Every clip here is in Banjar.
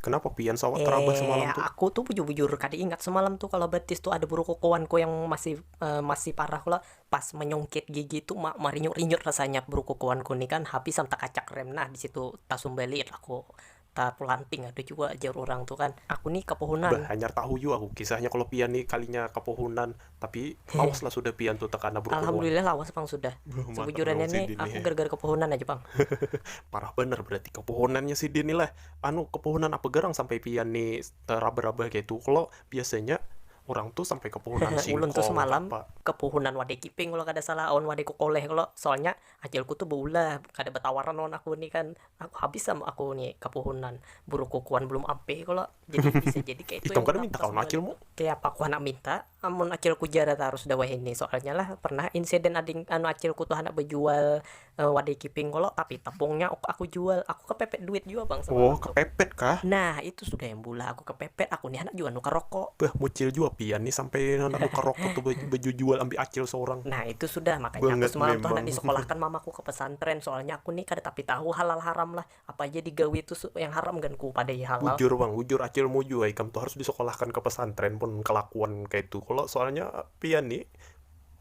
Kenapa pian sawat terabah semalam tu? Eh, aku tu bujur-bujur kada ingat semalam tu kalau betis tu ada burukukuanku yang masih masih parah kula pas menyungkit gigi tu ma marinyut-rinyut rasanya burukukuanku ni kan habis am takacak rem nah di situ tasumbalit aku. Taku lanting ada jua jar urang tu kan, aku ni kapohonan. Bah hanyar tahu jua aku kisahnya kalo pian ni kalinya kapohonan, tapi lawas lah sudah pian tu tekana berpohon. Alhamdulillah lawas pang sudah, sebujurannya ni aku gara gara kapohonan aja pang. Parah banar berarti kapohonannya sidin ni lah, anu kapohonan apa garang sampai pian ni terabah rabah kaitu kalo, biasanya urang tu sampai kapohonan singkong. Ulun tu semalam kapohonan wadai kiping kalo kada salah awan wadai kokoleh kalo, soalnya ajalku tu baulah kada batawaran lawan aku ni kan, Aku habis am aku ni kapuhunan burukuku wan belum ampih kalo jadi bisa jadi kaya itu Ikam kada minta kawan acil mu? Kaya apa aku handak minta amun acilku jara tarus dah wahini soalnya lah pernah insiden ading anu acilku tu handak bajual wadai kiping kalo tapi tapungnya aku jual aku kepepet duit jua bang semalam tu. Oh kepepet kah? Nah itu sudah. Bulah aku kepepet, aku ni handak jua nukar rokok. Beuh, mucil jua pian ni sampai handak nukar rokok tu bejujual ambil acil seorang. Nah, itu sudah, makanya aku semalam tu handak disekolahkan mamaku ke pesantren, soalnya aku ni kada tapi tahu halal haram lah, apa haja digawi tu yang haram gan ku padai halal. Bujur pang, bujur acilmu jua ikam tu harus disekolahkan ke pesantren mun kelakuan kaitu kalo, soalnya pian ni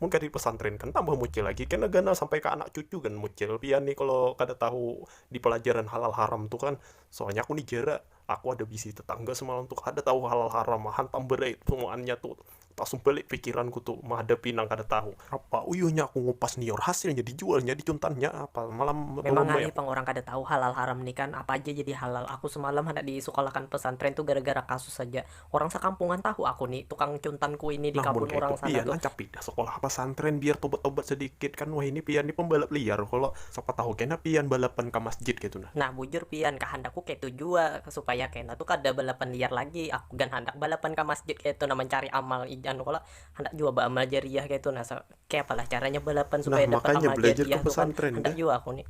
mun kada dipesantrenkan tambah mucil lagi, kena ganal sampai ke anak cucu gan mucil pian ni kalo kada tahu di pelajaran halal haram tu kan, soalnya aku ni jera. Aku ada bisi tetangga semalam tu kada tahu halal haram ma hantam berait semuaannya tu. Tasum balik pikiranku tu mahadapi nang kada tahu. Apa uyuhnya aku ngupas nior hasilnya dijualnya dicuntannya apa malam tu Memang ramai ngalih aku. pang urang kada tahu halal haram ni kan apa aja jadi halal. Aku semalam handak disekolahkan pesantren tu gara-gara kasus haja. Orang sakampungan tahu aku ni tukang cuntan kuini di kabun urang sana tu. Nah mun kaya itu pian rancak pindah sekolah pasantren biar tobat-tobat sedikit kan wahini pian ni pembalap liar kalo siapa tahu kena pian balapan ka masjid kaya tu nah. Nah bujur pian kahandakku kaya tu jua supaya kena tu kada balapan liar lagi aku gan handak balapan ka masjid kaya tu nah mancari amal anu kalo handak jua baamal jariah kaya tu nah kaya apa lah caranya balapan supaya dapat amal jariah tu kan handak jua aku ni.